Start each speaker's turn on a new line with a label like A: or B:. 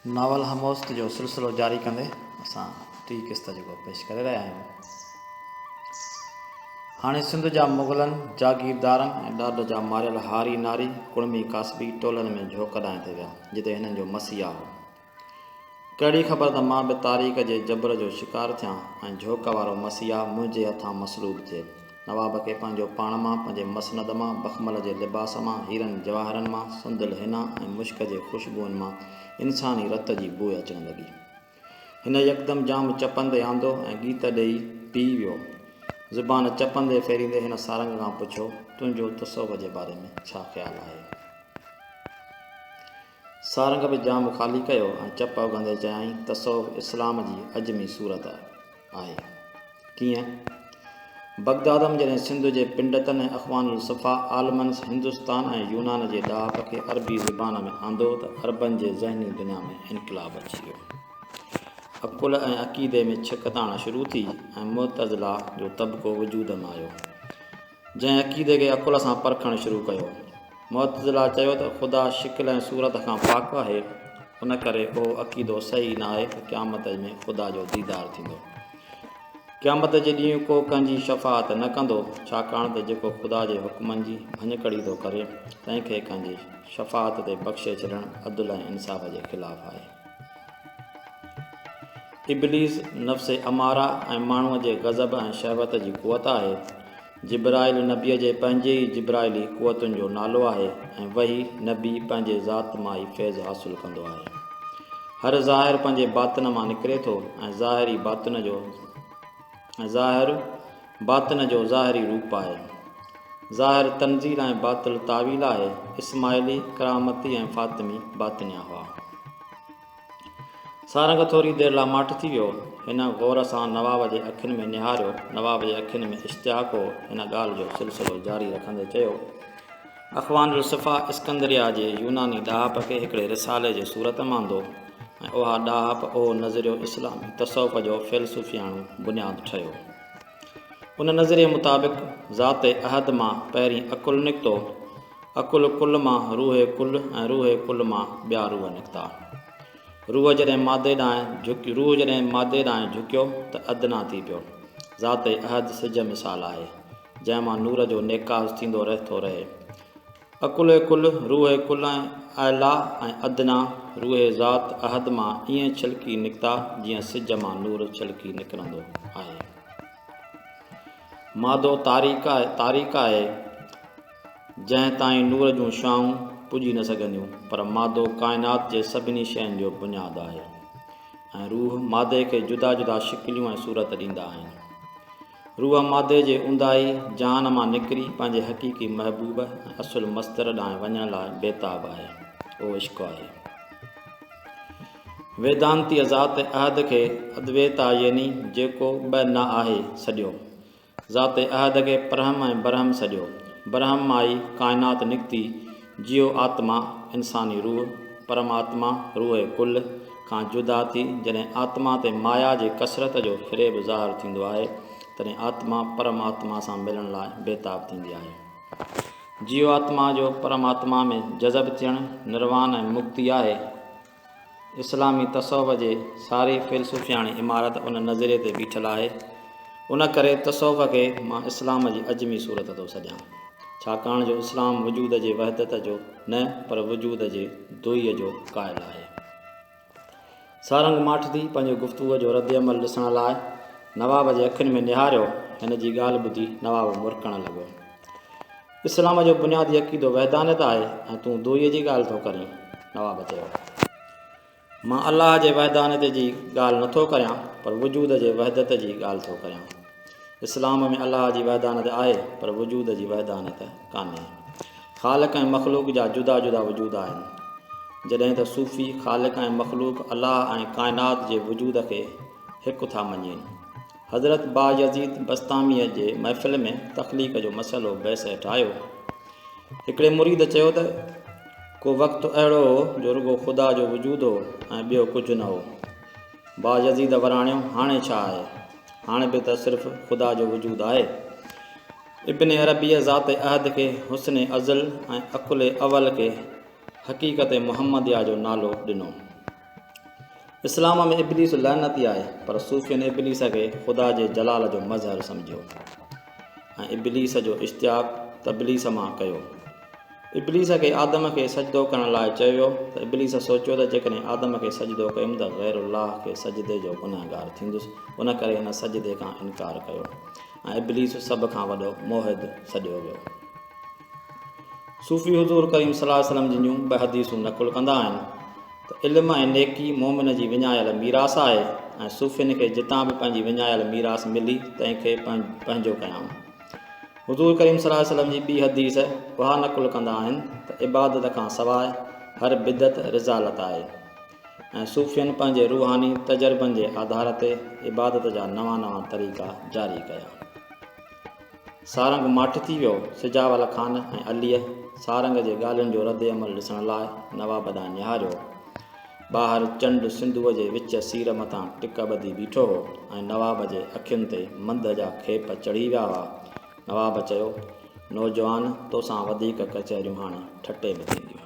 A: Novel هموست جو سلسلو جاري ڪندي اسان ٽي قسط جيڪو پيش ڪري رهيا آهيون هاڻي سنڌ جا مغلن جاگيردارن ۽ ڏاڍ جا ماريل هاري ناري ڪڙمي ڪاسبي ٽولن ۾ جهوڪ ڏانهن تي ويا جتي هنن جو مسيحا هو ڪهڙي خبر ته مان به تاريخ جي جبر جو شڪار ٿيان ۽ جهوڪ وارو مسيحا منهنجي هٿان مصلوب ٿئي. نواب کي پنهنجو پاڻ مان، پنهنجي مسند مان، بخمل جي لباس مان، هيرن جواهرن مان، سندل حنا ۽ مشڪ جي خوشبوئن مان انساني رت جي بوء اچڻ لڳي. هن يڪدم جام چپندي آندو ۽ ڳيت ڏيئي پيئي ويو. زبان چپندي ڦيريندي هن سارنگ کان پڇيو، تنهنجو تصوف جي باري ۾ ڇا خيال آهي؟ سارنگ به جام خالي ڪيو ۽ چپ اگهندي چيائين، تصوف اسلام جي عجمي صورت آهي. ڪيئن؟ بغداد م جڏهن سنڌ جي پنڊتن ۽ اخوان الصفا عالمن هندستان ۽ يونان جي ڏاهپ کي عربي زبان ۾ آندو ته عربن جي ذهني دنيا ۾ انقلاب اچي ويو. عقل ۽ عقيدي ۾ ڇڪتاڻ شروع ٿي ۽ معتزله جو طبقو وجود م آيو. جنهن عقيدي کي عقل سان پرکڻ شروع ڪيو. معتزله چيو ته خدا شڪل ۽ صورت کان پاڪ آهي، ان ڪري اهو عقيدو صحيح نه آهي ته قيامت ۾ خدا جو ديدار ٿيندو. قيامت جي ڏينهن ڪو ڪنهن جي شفاعت نه ڪندو، ڇاڪاڻ ته جيڪو خدا جي حڪمن جي ڀڃڪڙي ٿو ڪري، تنهن کي ڪنهن جي شفاعت تي بخشي ڇڏڻ عدل ۽ انصاف جي خلاف آهي. ابليس نفس اماره ۽ ماڻهوء جي غضب ۽ شهوت جي قوت آهي. جبرائيل نبيء جي پنهنجي ئي جبرائيلي قوتن جو نالو آهي ۽ وحي نبي پنهنجي ذات مان ئي فيض حاصل ڪندو آهي. هر ظاهر پنهنجي باطن مان نڪري ٿو ۽ ظاهر ئي باطن جو ظاهر، باطن جو ظاهري روپ آهي. ظاهر تنزيل ۽ باطل تاويل آهي. اسماعيلي، ڪرامتي ۽ فاطمي باطنيا هئا. سارنگ ٿوري دير لاء ماٺ ٿي ويو. هن غور سان نواب جي اکين ۾ نهاريو. نواب جي اکين ۾ اشتياق هو. هن ڳالهه جو سلسلو جاري رکندي چيو. اخوان الصفا اسڪندريه جي يوناني ڏاهپ کي هڪڙي رسالي جي صورت ۾ آندو ۽ اها ڏاهپ اهو نظريو اسلامي تصوف جو فيلسوفياڻو بنياد ٺهيو. ان نظريي مطابق ذات احد مان پهرين عقل نڪتو، عقل ڪل مان روح ڪل ۽ روح ڪل مان ٻيا روح نڪتا. روح جڏهن مادي ڏانهن جهڪ روح جڏهن مادي ڏانهن جهڪيو ته ادنيٰ ٿي پيو. ذات احد سج مثال آهي. جنهن مان نور جو نيڪاز ٿيندو رهي ٿو رهي. اڪل ڪل، روح ڪل ۽ اعليٰ ۽ ادنيٰ روح ذات احد مان ائين ڇلڪي نڪتا جيئن سج مان نور ڇلڪي نڪرندو آهي. مادو تاريڪ تاريڪ آهي جنهن تائين نور جون شعائون پڄي نه سگهنديون پر مادو ڪائنات جي سڀني شين جو بنياد آهي ۽ روح مادي کي جدا جدا شڪليون ۽ صورت ڏيندا آهن. روح مادي جي اونداهي جهان مان نڪري پنهنجي حقيقي محبوب ۽ اصل مستر ڏانهن وڃڻ لاء بيتاب آهي. اهو عشق آهي. ويدانتيء ذات احد کي ادويتا يعني جيڪو ٻه نه آهي سڏيو. ذات احد کي پرهم ۽ برهم سڏيو. برهم مان ئي ڪائنات نڪتي. جيو آتما، انساني روح، پرماتما، روح ڪل، کان جدا ٿي جڏهن آتما تي مايا جي ڪثرت جو فريب ظاهر ٿيندو آهي، تڏهن آتما پرماتما سان ملڻ لاء بيتاب ٿيندي آهي. جيو آتما جو پرماتما ۾ جذب ٿيڻ نروان ۽ مڪتي آهي. اسلامي تصوف جي ساري فيلسوفياڻي عمارت ان نظريي تي بيٺل آهي. ان ڪري تصوف کي مان اسلام جي عجمي صورت ٿو سڏيان. ڇاڪاڻ جو اسلام وجود جي وحدت جو نه پر وجود جي دوئي جو قائل آهي. سارنگ ماٺدي پنهنجي گفتگوء جو رد عمل ڏسڻ لاء نواب جي اکين ۾ نهاريو، هن جي ڳالهه ٻڌي نواب مرڪڻ لڳو. اسلام جو بنيادي عقيدو وحدانيت آهي ۽ تون دوئيء جي ڳالهه ٿو ڪرين. نواب چيو. مان الله جي وحدانيت جي ڳالهه نه ٿو ڪريان پر وجود جي وحدت جي ڳالهه ٿو ڪريان. اسلام ۾ الله جي وحدانيت آهي پر وجود جي وحدانيت ڪانهي. خالق ۽ مخلوق جا جدا جدا وجود آهن. جڏهن ته صوفي خالق ۽ مخلوق الله ۽ ڪائنات جي وجود کي هڪ ٿا مڃين. حضرت بايزيد بسطاميء جي محفل ۾ تخليق جو مسئلو بحث هيٺ آيو. هڪڙي مريد چيو ته، ڪو وقت اهڙو هو جو رڳو خدا جو وجود هو ۽ ٻيو ڪجهه نه هو. بايزيد وراڻيو، هاڻي ڇا آهي؟ هاڻي به ته صرف خدا جو وجود آهي. ابن عربيء ذات احد کي حسن ازل ۽ عقل اول کي حقيقت محمديه جو نالو ڏنو. اسلام ۾ ابليس لعنتي آهي پر صوفين ابليس کي خدا جي جلال جو مظهر سمجهيو ۽ ابليس جو اشتياق تبليس مان ڪيو ابليس کي آدم کي سجدو ڪرڻ لاء چيو ويو ته ابليس سوچيو ته جيڪڏهن آدم کي سجدو ڪيم ته غير الله کي سجدي جو گنهگار ٿيندس ان ڪري هن سجدي کان انڪار ڪيو ۽ ابليس سڀ کان وڏو موحد سڏيو ويو صوفي حضور ڪريم صلي الله عليه وسلم جن جون ٻه حديثون نقل ڪندا آهن ته علم ۽ نيڪي مؤمن جي وڃايل ميراث آهي ۽ صوفين کي جتان به پنهنجي وڃايل ميراث ملي تنهن کي پنهنجو ڪيائون حضور ڪريم صلي الله عليه وسلم جي ٻي حديث اها نقل ڪندا آهن ته عبادت کان سواء هر بدعت رزالت آهي ۽ صوفين پنهنجي روحاني تجربن جي آڌار تي عبادت جا نوان نوان طريقا جاري ڪيا سارنگ ماٺ ٿي ويو. سجاول خان ۽ عليء سارنگ جي ڳالهين جو رد عمل ڏسڻ لاء نواب ڏانهن نهاريو. ٻاهر چنڊ سنڌوء جي وچ سير مٿان ٽڪ ٻڌي بيٺو هو ۽ نواب جي اکين تي منڌ جا کيپ چڙهي ويا هئا. نواب چيو، نوجوان توسان وڌيڪ ڪچهريون هاڻي ٺٽي ۾ ٿينديون.